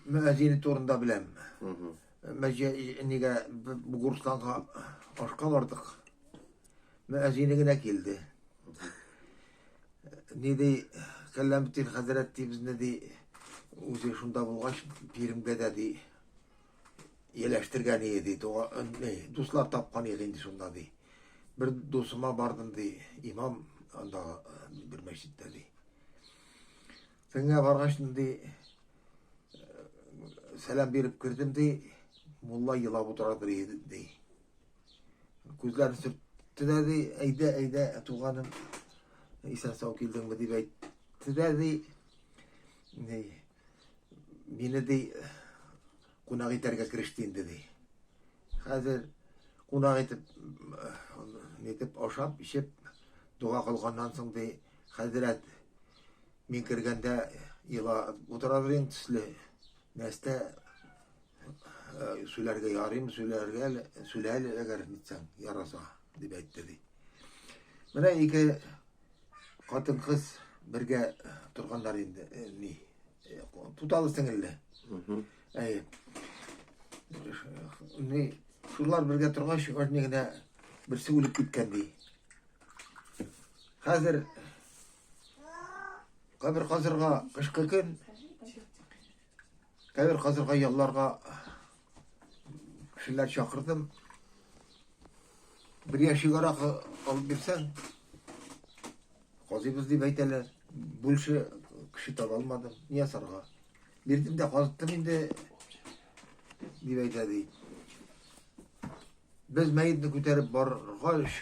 Мәзине турында беләм. Мәҗә нигә Бугурстанга ашка бардык. Мәзине генә килде. Ни ди, Кәлләмтин хәзрәт ди безне ди, үзе шунда булгач, биремгә дә ди, еләштергән иде ди, дуслар тапкан иде инде шунда ди. Бер дусыма бардым ди, имам анда бер мәчеттә ди. Төнгә баргач ди, сәлам биреп кердем ди, мулла елап утыра ди. Күзләрен сөртте дә ди, әйдә, әйдә, туганым, исән сау килдеңме дип әйтте дә ди. Мине ди, кунак итәргә кереште инде ди. Хәзер кунак итеп, нитеп ашап, ишеп, дога кылганнан соң ди, Хәзрәт, мин кергәндә елап утырадыр инде төсле. Нәрсә сүләргә ярыйм, сүләргә сүләле әгәр нитсәң яраса дип әйтте ди. Менә ике хатын кыз бергә торганнар инде ни. Туталы сеңелле. Әй. Ни, шулар бергә торгач, ошны генә берсе үлеп киткән ди. Хәзер кабер казырга кышкы көн, кабер казырга ялларга кешеләр чакырдым. Бер яшик аракы алып бирсәң, казыйбыз дип әйтәләр. Бүлше кеше таба алмадым, ни ясарга. Бирдем дә казыттым инде, дип әйтә ди. Без мәетне күтәреп баргач,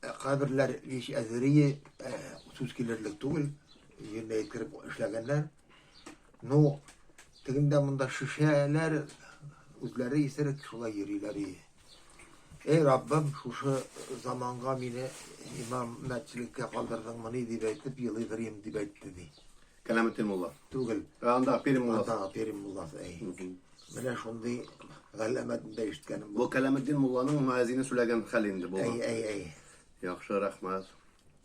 э, каберләр һич әзерие э, сүз килерлек түгел, җиренә еткереп эшләгәннәр. Ну, тегендә монда шешәләр үзләре исерек шулай йөриләр. Эй, Раббым, шушы заманга мине имам мәтчелеккә калдырдыңмыни дип әйтеп елыйдырым дип әйтте ди. Кәләметдин мулла. Түгел. Ә анда Пермь мулласы. Андагы Пермь мулласы. Әй. Менә шундый галәмәтен дә ишеткәнем. Бу Кәләметдин мулланың муәзине сүләгән хәл инде бу. Әй, әй, әй. Яхшы, рәхмәт.